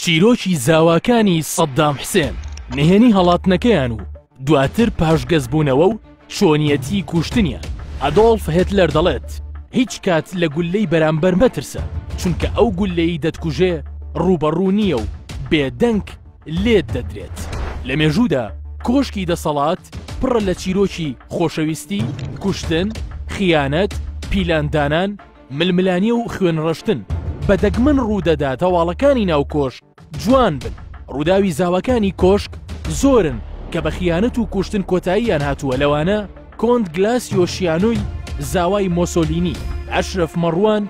چیرۆکی زاواکانی سەددام حسێن، نهێنی هەڵاتنەکەیان و دواتر پاشگەزبوونەوە و چۆنیەتی کوشتنیان. ئەدۆڵف هێتلەر دەڵێت، هیچ کات لە گوللەی بەرامبەر مەترسە، چونکە ئەو گوللەی دەتکوژێ ڕووبەڕوو نییە و بێدەنگ لێت دەدرێت. لە مێژوودا کۆشکی دەسەڵات پڕە لە چیرۆکی خۆشەویستی، کوشتن، خیانەت، پیلاندانان، ململانێ و خوێن ڕشتن بە دەگمەن ڕوودەدات هەواڵەکانی ناو کۆشک جوان بن ڕووداوی زاواکانی کۆشک زۆرن کە بە خیانەت و کوشتن کۆتاییان هاتووە لەوانە کۆنت گلاس یۆشیانۆی زاوای مۆسۆلینی ئەشرف مەڕوان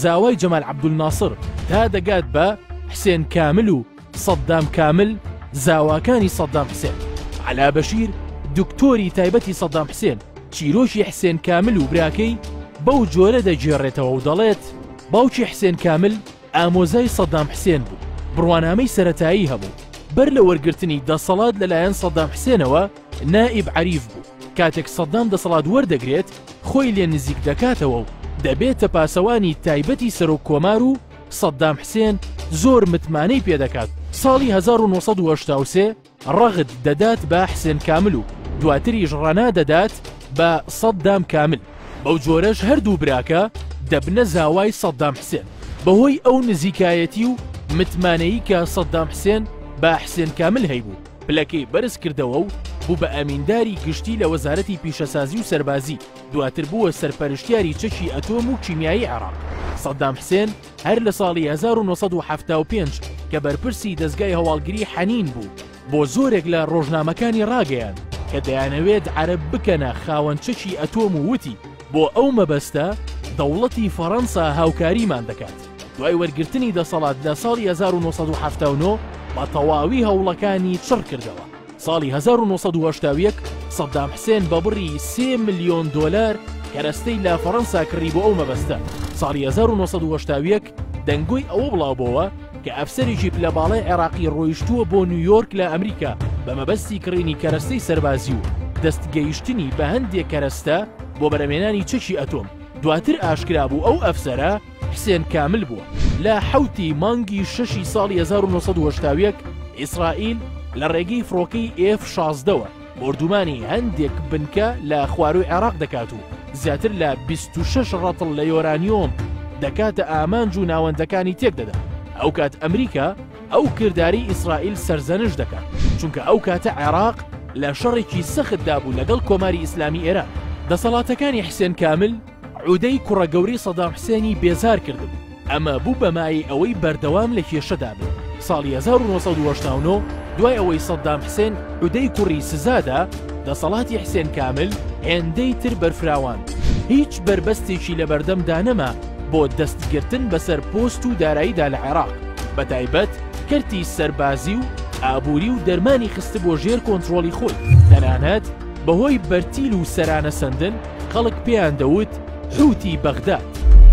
زاوای جەمال عەبدولناسر تا دەگات بە حسێن کامل و سەددام کامل، زاواکانی سەددام حسێن، عەلا بەشیر، دکتۆری تایبەتی سەددام حسێن، چیرۆکی حسێن کامل و براکەی بەو جۆرە دەگێڕێتەوە و دەڵێت، باوکی حسێن کامل ئامۆزای سەددام حسێن بوو، بڕوانامەی سەرەتایی هەبوو، بەر لە وەرگرتنی دەسەڵات لەلایەن سەددام حسێنەوە نائیب عەریف بوو، کاتێک سەددام دەسەڵات وەردەگرێت خۆی لێ نزیک دەکاتەوە و دەبێتە پاسەوانی تایبەتی سەرۆک کۆمار و سەددام حسێن زۆر متمانەی پێدەکات ساڵی 1970 ڕەغد دەدات بە حسێن کامل و دواتریش ڕەنا دەدات بە سەددام کامل بەو جۆرەش هەردوو براکە دەبنە زاوای سەددام حسێن بەهۆی ئەو نزیکایەتی و متمانەیی کە سەددام حسێن بە حسێن کامل هەیبوو پلەکەی بەرز کردەوە و بوو بە ئەمینداری گشتی لە وەزارەتی پیشەسازی و سەربازی دواتر بووە سەرپەرشتیاری چەکی ئەتۆم و کیمیایی عێراق. سەدام حسێن هەر لە ساڵی هەزار و نۆ سەد و حەفتا و پێنج کە بەرپرسی دەزگای هەواڵگری حەنین بوو، بۆ زۆرێک لە ڕۆژنامەکانی ڕاگەیاند کە دەیانەوێت عەرەب بکەنە خاوەن چەکی ئەتۆم و وتی، بۆ ئەو مەبەستە دەوڵەتی فەڕەنسا هاوکاریمان دەکات. دوای وەرگرتنی دەسەڵات لە ساڵی هەزار و نۆ سەد و حەفتا و نۆ بە تەواوی هەوڵەکانی چڕ کردەوە. ساڵی هەزار و نۆ سەد و هەشتا و یەک سەدام حسێن بە بڕی سێ ملیۆن دۆلار کەرەستەی لە فەڕەنسا کڕی بۆ ئەو مەبەستە ساڵی هەزار و نۆ سەد و هەشتا و یەک دەنگۆی ئەوە بڵاوبۆوە کە ئەفسەرێکی پلە باڵای عێراقی ڕۆیشتووە بۆ نیویۆرک لە ئەمریکا بە مەبەستی کڕینی کەرەستەی سەربازی و دەست گەیشتنی بە هەندێک کەرەستە بۆ بەرەمێنانی چەکی ئەتۆم دواتر ئاشکرا بوو ئەو ئەفسەرە حسێن کامل بووە. لە حەوت ی مانگی شەشی ساڵی هەزار و نۆ سەد و هەشتا و یەک ئیسرائیل لە ڕێگەی فڕۆکەی ئێف شازدە وە بۆردومانی هەندێک بنکە لە خوارووی عێراق دەکات و زیاتر لە بیست و شەش ڕەتڵ لە یۆرانیۆم دەکاتە ئامانج و ناوەندەکانی تێک دەدات. ئەوکات ئەمریکا ئەو کردارەی ئیسرائیل سەرزەنشت دەکات، چونکە ئەو کاتە عێراق لە شەڕێکی سەختدا بوو لەگەڵ کۆماری ئیسلامی ئێران. دەسەڵاتەکانی حسێن کامل، عودەی کوڕە گەورەی سەدام حسێنی بێزار کردبوو، ئەمە بوو بە مایەی ئەوەی بەردەوام لە کێشەدا بن. ساڵی 1989 دوای ئەوەی سەدام حسێن عودەی کوڕی سزادا، دەسەڵاتی حسێن کامل هێندەی تر بەرفراوان بوو. هیچ بەربەستێکی لە بەردەمدا نەما بۆ دەستگرتن بەسەر پۆست و داراییدا لە عێراق، بە تایبەت کەرتی سەربازی و ئابووری و دەرمانی خستبووە ژێر کۆنترۆڵی خۆی. تەنانەت بەهۆی بەرتیل و سەرانەسەندن، خەڵک پێیان دەوت حووتی بەغداد.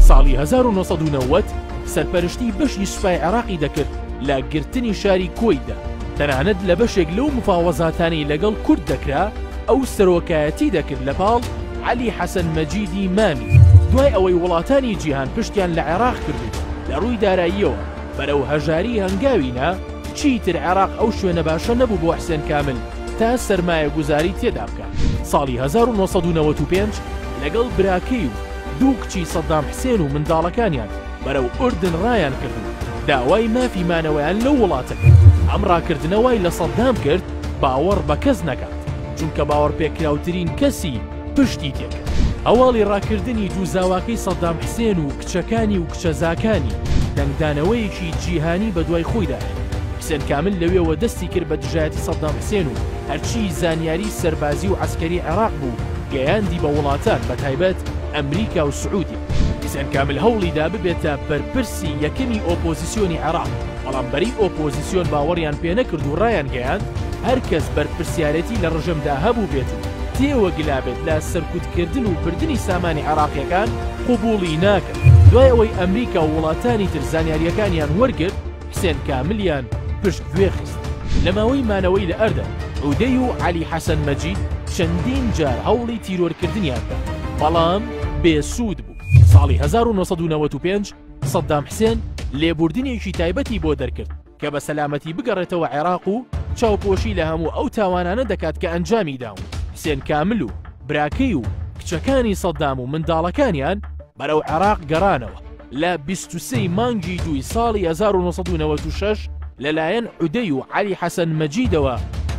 ساڵی هەزار و نۆ سەد و نەوەد سەرپەرشتی بەشی سوپای عێڕاقی دەکرد لە گرتنی شاری کۆیتە، تەنانەت لە بەشێک لەو مفاوەزاتانەی لەگەڵ کورد دەکرا ئەو سەرۆکایەتی دەکرد لەپاڵ عەلی حەسەن مەجیدی مامی، دوای ئەوەی وڵاتانی جیهان پشتیان لە عێڕاق کرد و لە ڕووی داراییەوە بەرەو هەژاری هەنگاوی نا، چیتر عێڕاق ئەو شوێنە باشە نەبوو بۆ حسێن کامل تا سەرمایەگوزاری تێدا بکات. ساڵی هەزار و نۆ سەد و نەوەد و پێنج لەگەڵ براکەی و دوو کچی سەدام حسێن و منداڵەکانیان بەرەو ئوردن ڕایانکرد و داوای مافی مانەوەیان لەو وڵاتە کرد. ئەم ڕاکردنە وای لە سەدام کرد باوەڕ بە کەس نەکات، چونکە باوەڕپێکراوترین کەسی پشتی تێکرد. هەواڵی ڕاکردنی دوو زاواکەی سەدام حسێن و کچەکانی و کچە زاکانی، دەنگدانەوەیەکی جیهانی بەدوای خۆیدا هێنا. حسێن کامل لەوێوە دەستی کرد بە دژایەتی سەدام حسێن و هەرچی زانیاری سەربازی و عەسکەری عێراق بوو گەیاندی بە وڵاتان بەتایبەت ئەمریکا و سعودیە. حسێن کامل هەوڵی دا ببێتە بەرپرسی یەکەمی ئۆپۆزیسیۆنی عێراق، بەڵام بەرەی ئۆپۆزیسیۆن باوەڕیان پێنەکرد و ڕایانگەیاند هەرکەس بەرپرسیارێتی لە ڕژێمدا هەبووبێت و تێوەگلابێت لە سەرکوتکردن و بردنی سامانی عێراقییەکان، قبوڵی ناکەن. دوای ئەوەی ئەمریکا و وڵاتانی تر زانیارییەکانیان وەرگرت، حسێن کاملیان پشتگوێ خست. لە ماوەی مانەوەی لە ئەردەن، عودەی و عەلی حەسەن مەجید چەندین جار هەوڵی تیرۆرکردنیان دا، بەڵام بێسوود بوو. ساڵی هەزار و نۆ سەد و نەوەد و پێنج سەدام حسێن لێبووردنێکی تایبەتی بۆ دەرکرد، کە بە سەلامەتی بگەڕێتەوە عێراق و چاوپۆشی لە هەموو ئەو تاوانانە دەکات کە ئەنجامی داون، حسێن کامل و براکەی و کچەکانی سەدام و منداڵەکانیان بەرەو عێراق گەڕانەوە لە بیست و سێ ی مانگی دووی ساڵی هەزار و نۆ سەد و نەوەد و شەش لەلایەن عودەی و عەلی حەسەن مەجیدەوە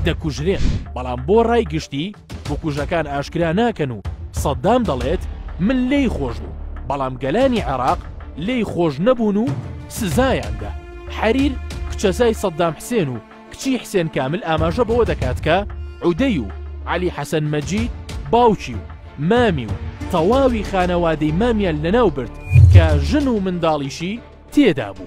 دەکوژرێن، بەڵام بۆ ڕای گشتی، بکوژەکان ئاشکرا ناکەن و سەددام دەڵێت من لێی خۆش بوو بەڵام گەلانی عێراق لێی خۆش نەبوون و سزایاندا حەریر کچەزای سەددام حسێن و کچی حسێن کامل ئاماژە بەوە دەکات کە عودەی و علی حەسەن مەجید باوکی و مامی و تەواوی خانەوادەی مامیان لەناو برد کە ژن و منداڵیشی تێدا بوو.